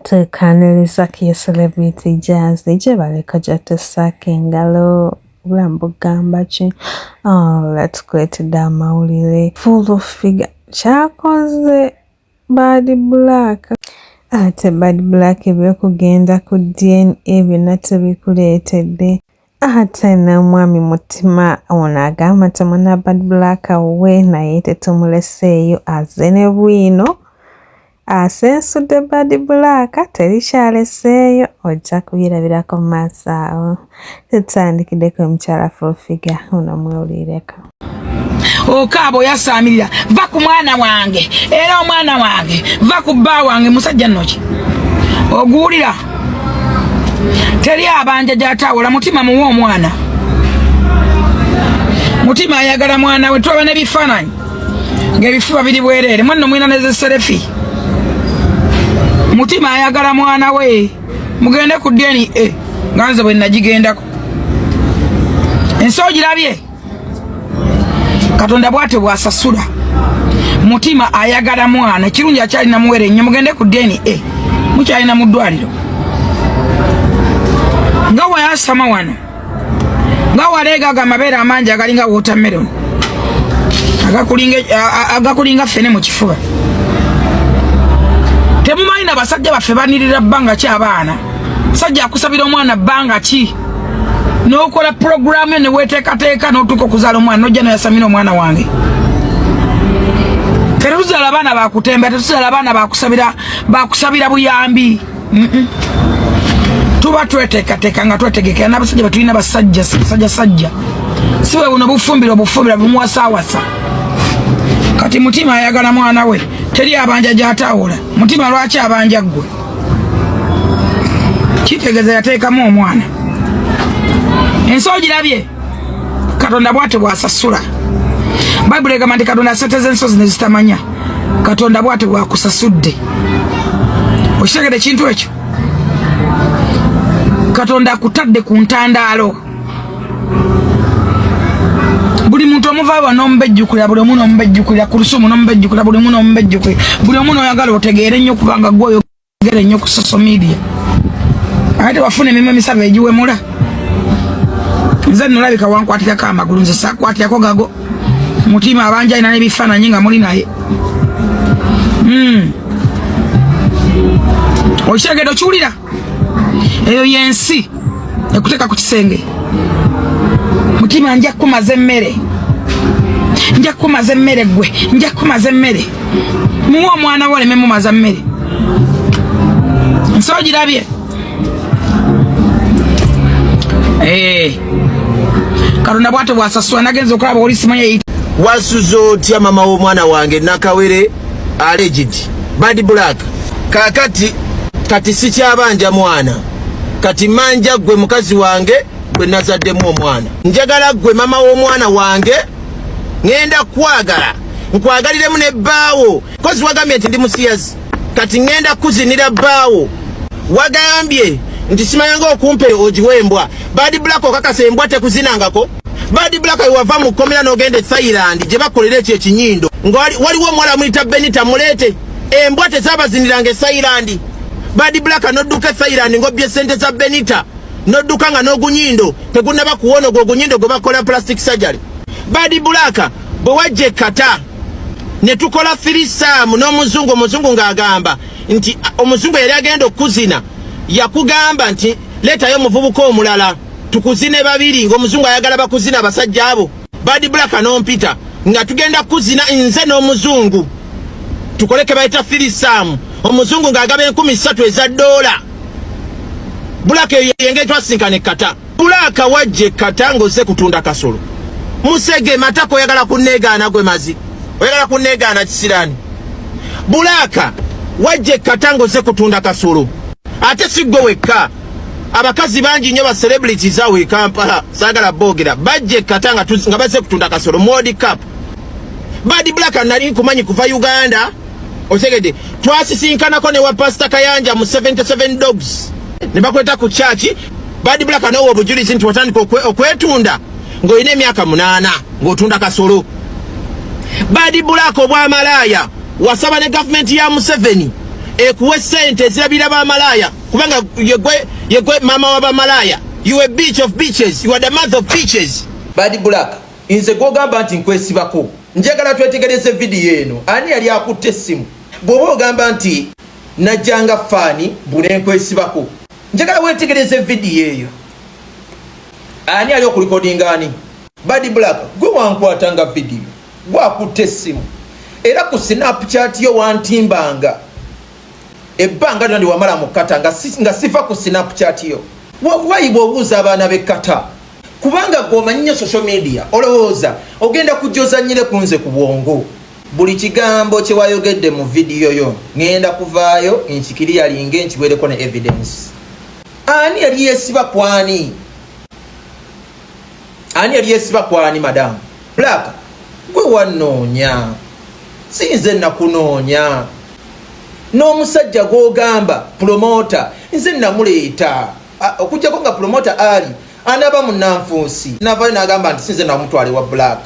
tukaaniriza ku ye celebrity jazz gyebali kojatusaako engalo obulamu bugamba ki ola oh, tukuleetedde amawulire full figure kyakoze bad black ate bad black ebyokugenda ku dna byonna tebikuleetedde ate n'omwami mutima ono agamba nti muna bad black we naye tetumuleseeyo aze ne bwino asensudde bad black terikyaleseeyo ojja kubirabirako maaso awo tutandikideko omukyala fufiga ono mwewulireko okaaba oyasaamirira va ku mwana wange era omwana wange va ku bba wange musajja nnoki oguwulira teri abanja gyatawola mutima muwe omwana mutima ayagala mwana we twaba nebifaananyi ngaebifuba biri bwereere mwanno mwina nezeserefi mutima ayagala mwana we mugende ku dna nga nze bwe nagigendako ensi ogirabye katonda bwate bwasasula mutima ayagala mwana ekirungi akyalina muwere enyo mugende ku dna e. mukyalina mu ddwaliro nga wayasama wano nga waleegaga amabeere amangi agalinga watermelon agakulinga fene mu kifuba temumanyi na basajja baffe banirira bbanga ki abaana sajja akusabira omwana bbanga ki n'okola pulogulaamu yo ne weeteekateeka n'otuuka okuzaala omwana n'ojja nayasamina omwana wange tetuzala abaana bakutemba tetuzala abaana bakusabira bakusabira buyambi tuba tweteekateeka nga twetegekera n'abasajja betulina basajja basajja sajja si bwe buno bufumbira obufumbira bimuwasaawasa kati mutima ayagala mwana we teri abanja gyataawula mutima lwaki abanja ggwe kitegeza yateekamu omwana ensi ogirabye katonda bwate bwasasula bayibuli egamba nti katonda sente z'ensozi nezitamanya katonda bwate bwakusasudde okitegede ekintu ekyo katonda akutadde ku ntandaalo buli muntu omuvaaba nomubejjukulira buli omu nomubejjukulira kurusumu nomubejjukulira buli omu nomubejjukulira buli omu noyagala otegeere nnyo kubanga gwe oyogere nnyo ku social media ate wafuna emima emisabo egiwemula nze nolabika wankwatirako amagulu nze sakwatirako gago mutima abanja alina nebifaananyi nga muli naye hmm. okitegede okiwulira eyo yensi ekuteka ku kisenge mutima nja kukumaza emmere nja kukumaza emmere gwe nja kukumaza emmere muwe omwana wo oleme mumaza mmere nsi ogirabye eh. katonda bwate bwasasula nagenza okulaba oli simanyi wasuza otya mama w'omwana wange nakawere alleged bad black kakati kati sikyabanja mwana kati manja gwe mukazi wange gwe nazaddemu omwana njagala gwe mama w'omwana wange ŋenda kwagala nkwagaliremu ne bbaawo kozi wagambye nti ndi musiyazi kati ŋenda kuzinira bbaawo wagambye nti simayanga okumpe ogiwa embwa badi black okakasa embwa tekuzinangako Bad Black wava mu komera nogende Thailand je bakolera ekyo ekinyindo nga waliwo omuwala muyita Benita mulete embwa tezabazinira nga Thailand Bad Black nodduka Thailand ngobye sente za Benita nodduka nga n'ogunyindo tegunaba kuwono gwo ogunyindo gwe bakola plastic surgery Bad Black bwe wajje kata ne tukola firisaamu n'omuzungu omuzungu ng'agamba nti omuzungu yali agenda okukuzina yakugamba nti leetayo omuvubuka omulala tukuzine babiri ng'omuzungu ayagala bakuzina abasajja abo badi bulaka n'ompita nga tugenda kuzina nze n'omuzungu tukole ke bayita firisaamu omuzungu ng'agaba enkumi ssatu eza doola bulaka eyo yenge twasinkana ekkata bulaka wajja ekkata ng'ozze kutunda kasolo musege matako oyagala kunneegaana gwe mazi oyagala kunneegaana kisiraani bulaka wajja ekkata ng'ozze kutunda kasolo ate si ggwe wekka abakazi bangi nnyo ba celebrities awo e Kampala saagala boogera bajja ekkata nga nga bazze kutunda kasolo modi cap badi black anali nkumanyi kuva Uganda otegedde twasisinkanako ne wa pasita Kayanja mu 77 dogs ne bakweta ku kyaki badi black anawa obujulizi nti watandika okwetunda ng'olina emyaka munaana ng'otunda kasolo badi black obwamalaaya wasaba ne gavumenti ya Museveni ekuwe sente ezirabira ba malaaya kubanga yegwe yegwe mama wa bamalaya you a beach of beaches you are the mouth of beaches bad black inze gogamba nti nkwesibako njagala twetegereze video eno ani yali akutte essimu bwoba ogamba nti najjanga faani bunenkwesibako njagala wetegereze video eyo ani ali okulikodinga ani bad black gwe wankwata nga video gwakutte essimu era ku snapchat yo wantimbanga ebbanga lyona ndiwamala mu kata nga, nga siva ku snapchat yo wakubayibwa obuuza abaana be kata kubanga gwomanyi nyo social media olowooza ogenda kujozanyire kunze ku bwongo buli kigambo kyewayogedde mu vidiyo yo ngenda kuvaayo nkikiri yalinge nkiwereko ne evidence ani yali yesiba kwani ani yali yesiba kwani madamu black gwe wanoonya sinze nakunoonya n'omusajja gwogamba pulomota nze namuleeta okujjako nga pulomota ali anaba munanfuusi navayo nagamba nti sinze namutwale wa black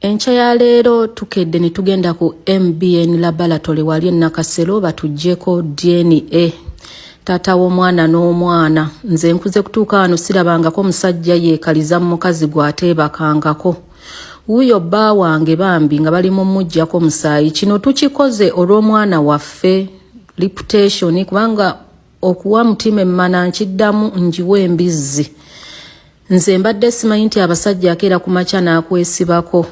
enkya ya leero tukedde ne tugenda ku mbn laboratory wali enakasero batuggyeko dna taata w'omwana n'omwana nze nkuze kutuuka wano sirabangako musajja yeekaliza mu mukazi gwateebakangako wuyo bba wange bambi nga bali mumujjako musaayi kino tukikoze olw'omwana waffe reputation kubanga okuwa mutima emmana nkiddamu njiwa embizzi nze mbadde simanyi nti abasajja akeera ku makya n'akwesibako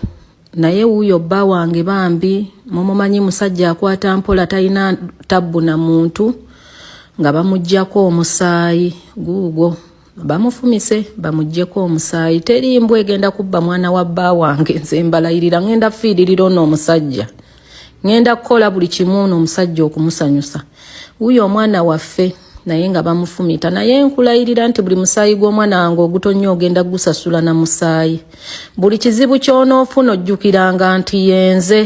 naye wuyo bba wange bambi mumumanyi musajja akwata mpola talina tabbu na muntu nga bamuggyako omusaayi guugwo bamufumise bamujjeko omusaayi teri mbwa egenda kubba mwana wa bba wange nze mbalayirira ngenda fiiririra ono omusajja ngenda kukola buli kimu ono omusajja okumusanyusa wuyo omwana waffe naye nga bamufumita naye nkulayirira nti buli musaayi gw'omwana wange ogutonnya ogenda gusasula na musaayi buli kizibu ky'onoofuna ojjukiranga nti yenze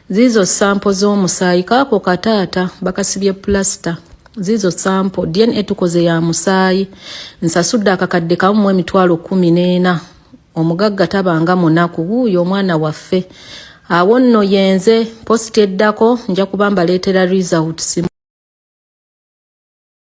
Ziizo sampo z'omusaayi kaako kataata bakasibye pulasita ziizo sampo dna tukoze ya musaayi nsasudde akakadde kamu mu emitwalo kumi n'ena omugagga tabanga munaku wuuyo omwana waffe awo nno yenze positi eddako nja kuba mbaleetera results